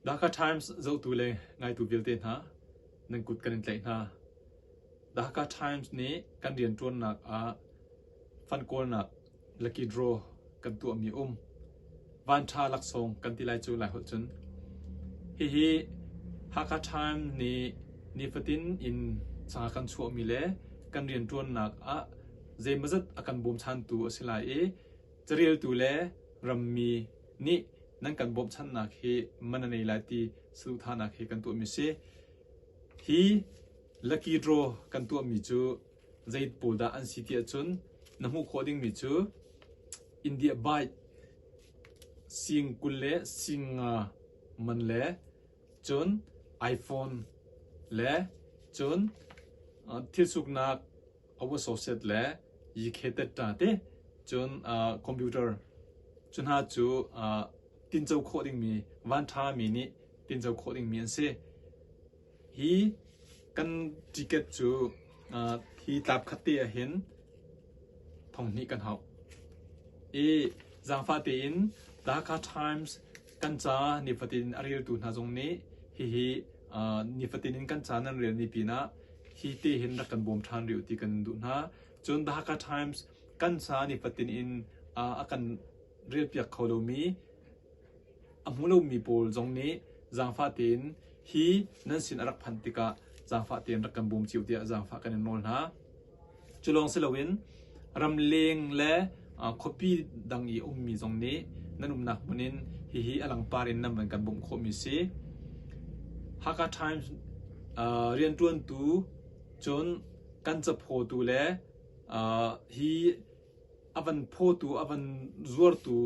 Dhaka Times zohtu le ngaitu vialte hna, nan kut kan in tlaih hna. Dhaka Times nih kan rianṭuannak ah fankawlnak lakihraw kan tuahmi a um. Vanṭha laksawng kan ti lai cu lai holh cun. Hihi Hakha Times nih nifatin in sangha kan chuahmi le kan rianṭuannak ah zeimazat a kan bawmchantu a si lai i Careltu le rammi nih nan kan bawmhchanhnak hi man a nei lai ti saduhthahnak hi kan tuahmi a si. Hi lucky draw kan tuahmi cu zei pawl dah an si ti ahcun na hmuh khawh dingmi cu India bike sing kul le sing nga man le cun iPhone le cun uh, thil suknak a associate le yikhetet ta te cun uh, computer cu hna cu uh, tinco khawh dingmi van ṭhami nih tinco khawh dingmi an si hi kan ticket cu uh, hi tlap khat te ahhin thong hnih kan hau i zaangfa tein the Hakha Times Kan caah nifatin a reltu hna zong nih hihi nifatin in kan caan an rel ni pinah hi te hin rak kan bawm ṭhan rih u ti kan duh hna. Cun The Hakha Times kan ca nifatin in a kan relpiak kho lomi a hmu lomi pawl zong nih zaangfah tein hi nan sin a rak phanh tikah zaangfah tein rak kan bawm cio tiah zaangfah kan in nawl hna. Cu lawng si loin ramleng le khuapi dang i a ummi zong nih nan umnak hmun in hihi a langpar in nan van kan bawmh khawhmi a si. Hakha Times rianṭuantu cun kan caphawtu le hi a van phawtu, a van zuartu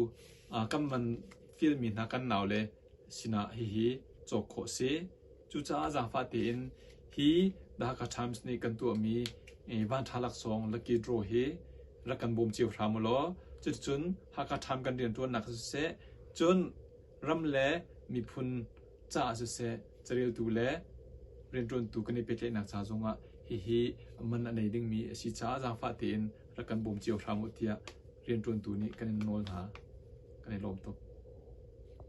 kan van fialmi hna kan nau le Sinah hihi cawk khawh a si. Cucaah zaangfah tein hi Dhaka Times nih kan tuahmi vanṭha laksawng Lucky Draw hi rak kan bawm cio hram u law cuticun Hakha Times kan rianṭuannak ah siseh cun ram le miphun caah siseh careltu le rianṭuantu kan i pehtlaihnak ca zongah hihi man a nei dingmi a si caah zaangfah tein rak kan bawm cio hram u tiah rianṭuantu nih kan in nawl hna. Kan i lawm tuk.